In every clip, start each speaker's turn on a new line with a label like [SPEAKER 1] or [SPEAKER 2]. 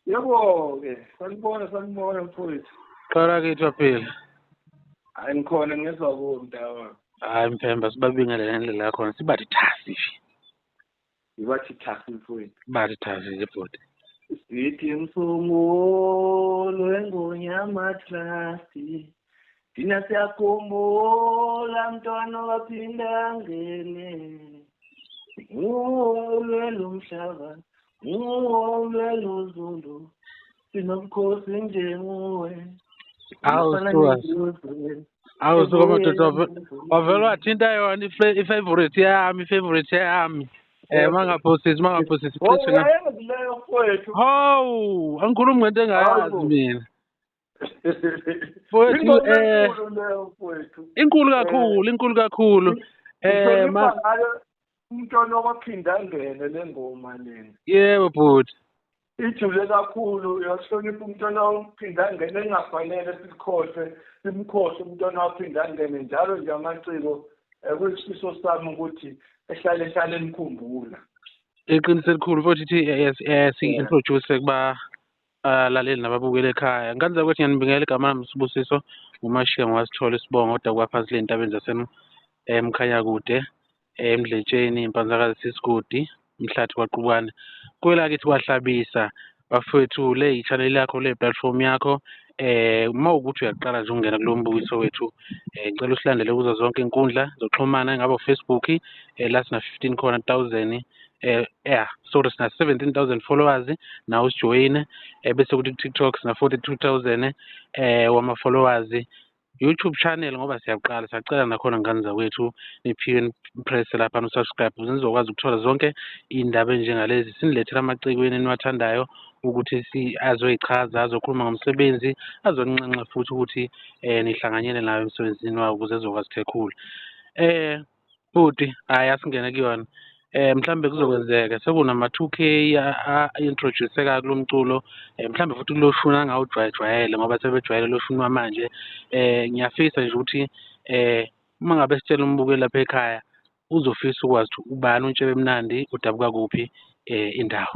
[SPEAKER 1] Yebo-ke, sanibona sanibona mfowethu. Qala ke Thwaphila.
[SPEAKER 2] Hayi
[SPEAKER 1] ngikhona ngezwa kuwe mntawa. Hayi mphemba
[SPEAKER 2] sibabingelele ngendlela yakhona sibathi thasi nje.
[SPEAKER 1] Ibathi thasi mfowethu. Bathi thasi nje
[SPEAKER 2] bhuti. Sithi
[SPEAKER 1] msungulu wengonyama thasi. Thina siyakhumbula mntwana waphinde angene ulwelo mhlaba ulwelo zulu sinobukhosi
[SPEAKER 2] njenguwe awusuka madoda wavele wathinta yona ifavorite yami ifavorite yami Eh mangaphosisi mangaphosisi please.
[SPEAKER 1] Hawu
[SPEAKER 2] angikhulumi ngento engayazi mina. Mfowethu, eh, inkulu kakhulu inkulu kakhulu eh ma
[SPEAKER 1] umntwana waphinde angene le ngoma lena yebo bhuti
[SPEAKER 2] ijule
[SPEAKER 1] kakhulu uyahlonipha umntwana waphinde angene engafanele sikhohlwe simkhohlwe umntwana waphinde angene njalo nje amaciko eh, kuyisifiso sami ukuthi ehlale ehlale emkhumbula iqiniso
[SPEAKER 2] elikhulu futhi ithi eh, yes eh, si introduce kuba alaleli nababukeli ekhaya ngane zakwethu ngiyanibingelela igama lami sibusiso ngumashiya ngowasithola isibongo kodwa kwaphansi le ntabeni zasemkhanyakude emdletsheni impanzakazi sisigodi umhlathi kwaqubane kwelakithi kwahlabisa bafowethu le yi-channel yakho le platform yakho eh uma ukuthi uyaqala nje ukungena kulo mbukiso wethu eh ngicela usilandele kuzo zonke inkundla zokuxhumana engabe ufacebook eh la sina-fifteen khona thousand eh yeah sorry sina 17000 followers na usijoyine eh, bese kuthi TikTok sina 42000 eh wama followers YouTube channel ngoba siyaqala sacela nakhona ngane zakwethu niphiwe press lapha no subscribe ukuze nizokwazi ukuthola zonke iy'ndaba enjengalezi sinilethela amaciko yenu eniwathandayo ukuthi si azoyichaza azokhuluma ngomsebenzi azoninxenxa futhi ukuthi um nihlanganyele nayo emsebenzini wawo ukuze ezokwazi thekhula um bhuti hhayi asingene kuyona eh mhlambe kuzokwenzeka sekunama 2K introduceka kulo mculo eh, mhlambe futhi kuloshuni angawujwayejwayele ngoba sebejwayele loshuni wamanje eh ngiyafisa nje ukuthi eh uma ngabe sitshela umbukeli lapha ekhaya uzofisa ukwazi ukuthi ubani untshebe mnandi udabuka kuphi eh indawo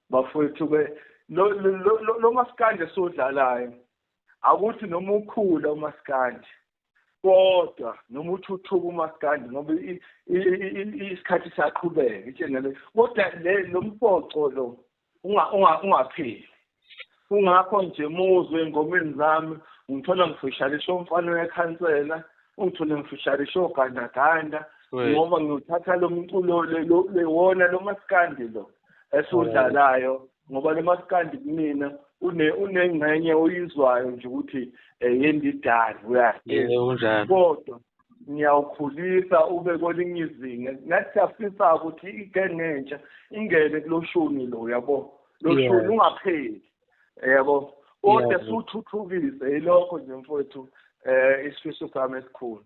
[SPEAKER 1] bafowethu ke lo lo- lo- lo maskandi esiwudlalayo akuthi noma ukhula umaskandi kodwa noma uthuthuka umaskandi ngoba i- i- i- i- isikhathi siyaqhubeka itshengele kodwa le lo mpoco lo unga- unga- ungapheli Kungakho nje muzwe ey'ngomeni zami ungithola ngifisharisha umfana wekhansela, ungithole ngifisharisha ogandaganda ngoba ngiwuthatha lo mculo lewona lo maskandi lo esiwudlalayo ngoba lo maskandi kumina unengxenye oyizwayo nje ukuthi eh, yendidane uyahlela kodwa ngiyawukhulisa ube kwelinye izinga ngathi siyafisa ukuthi igenge entsha ingene kuloshuni lo yabo loshuni ungapheli yebo kodwa suthuthukise yilokho nje mfowethu eh isifiso sami esikhulu